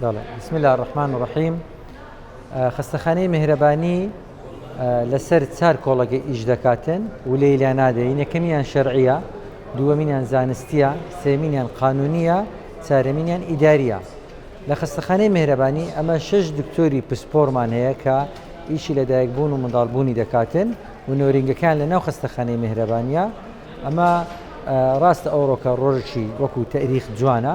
بەڵێ بسم الله الرحمن الرحیم خەستەخانەی مهرەبانی لەسەر چار کۆڵەگە ئیش دەکاتن و لێی لا نادەین یەکەمیان شەرعە دووەمینیان زانستیە سێمینیان قانونیە چارەمینیان ئیداریە لە خەستەخانەی مهرەبانی ئەمە شش دکتۆری پسپۆرمان هەیە کە ئیشی لە دایکبوون و منداڵبوونی دەکاتن و نۆرینگەکان لە ناو خەستەخانەی مهرەبانە ئەمە ڕاستە ئەوڕۆکە ڕۆژی وەکو تەریخ جوانە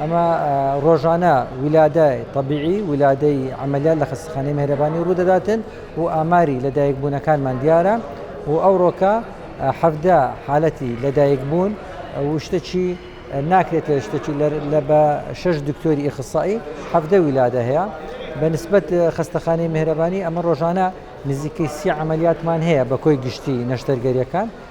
ئەمە ڕۆژانە ولادە طبیعی ولادەی عملیات لە خەستەخانەی مهرەبانی ڕوودەداتن و ئاماری لەدایک بوونەکانمان دیارە و ئەوڕۆکە حەفدە حالەتی لەدایک بوون وشتەچی ناکرێتە شتەچی لە بە شش دکتۆری ئیخصایی حەفدە ولادە هەیە بە نسبت خەستەخانەی مهرەبانی ئەمە ڕۆژانە نزیکەی سی عملیاتمان هەیە بە کۆی گشتی نەشتەرگەریەکان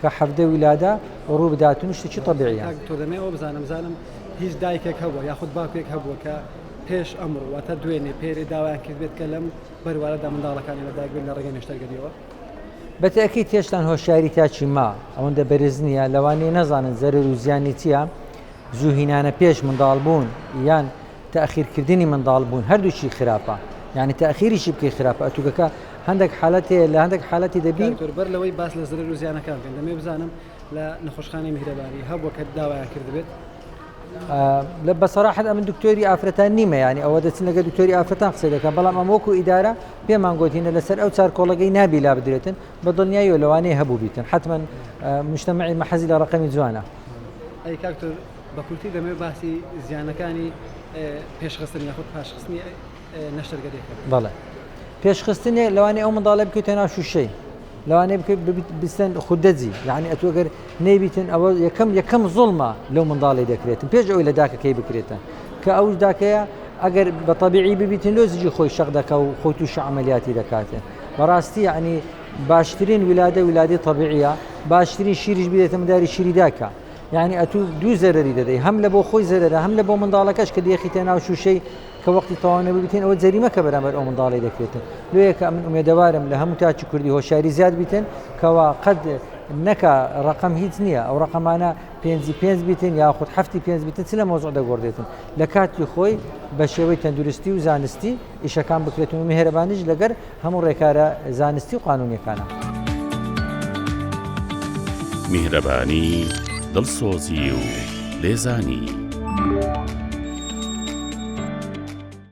کە حەڤدە وی لادا ڕوو بدات و شتێکی تەبیعیە. کاک دکتۆر دەمەوێ ئەوە بزانم بزانم هیچ دایکێک هەبووە یاخود باوکێک هەبووە کە پێش ئەمڕۆ واتە دوێنێ پێرێ داوایان کردبێت کە لەم بەروارەدا منداڵەکانی لەدایک بێن لە ڕێگەی نەشتەرگەریەوە؟ بەتەئکید هێشتان هۆشیاری تاکی ما ئەوەندە بەرز نییە لەوانەیە نەزانن زەرەر و زیانی چییە زوو هینانە پێش منداڵبوون یان تاخیرکردنی منداڵ بوون هەردووکی خراپە یعنی تاخیریشی بکەی خراپە ئەتوگەکە هەندێک حالەت هەیە لە هەندێک حالەتی دەبین بەر لەوەی باس لە زرەر و زیانەکان بکەین دەمێ بزانم لە نەخۆشخانەی میهرەبانی هەبووە کە داوایان کردبێت لە بەسەراحت ئەمن دکتۆری ئافرەتان نیمە ینی ئەوە دەچن لەگە دکتۆری ئافرەتان قسە دەکەن بەڵام ئەم وەکو ئیدارە پێمان گوتینە لەسەر ئەو چارکۆڵەگەی نابی لا بدرێتن بە دڵنیایی و لەوانەیە هەبوو بیتن حتمما مشتمەعی مەحەزی لە ڕقمی جوانە ئەی کاکتۆر بە کورتی دەمەوێت باسی زیانەکانی پێشخستن یاخود پاشخستنی نەشتەرگەری بکەم. بەڵێ. پێشخستنێ لەوانەیە ئەو منداڵە بکەویتە ناو شووشەی. لەوانەیە بکەیت ببیت بستن خودەجی. یانی ئەتوو گەر نەیبیتن ئەوە یەکەم یەکەم زوڵمە لەو منداڵی دەکرێتن پێش ئەوی لە داکەکەی بکرێتە. کە ئەوش داکەیە ئەگەر بە تەبیعی ببیتن لۆ زیجی خۆی شەق دەکا و خۆی تووشی عەمەلیاتی دەکاتێ. بەڕاستی یانی باشترین ولادە ولادەی تەبیعییە، باشترین شیریش بدەیتە منداری شیری دایکە. یانی ئەتوو دوو زەرەری دەدەی هەم لە بۆ خۆی زەرەرە هەم لە بۆ منداڵەکەش کە دێخیتە ناو شووشەی کە وەختی تەواو نەبیتین ئەوە جەریمە کە بەرامبەر ئەو منداڵی دەکرێتن لێکە من ئومێدەوارم لە هەموو تاچی کوردی هۆشاری زیاد بیتن کەوا قەت نەکە ڕقم هیچ نییە ئەو ڕقەمانە پێنجی پێنج بیتن یاخود هەفتی پێنج بیتن چ لە مۆزۆ دەگۆڕێتن لە کاتی خۆی بە شێوەی تەندروستی و زانستی ئیشەکان بکرێتن و مهێرەبانیش لەگەر هەموو ڕێکارە زانستی و قانونیەکانە. میهرەبانی، دڵسۆزی و لێزانی.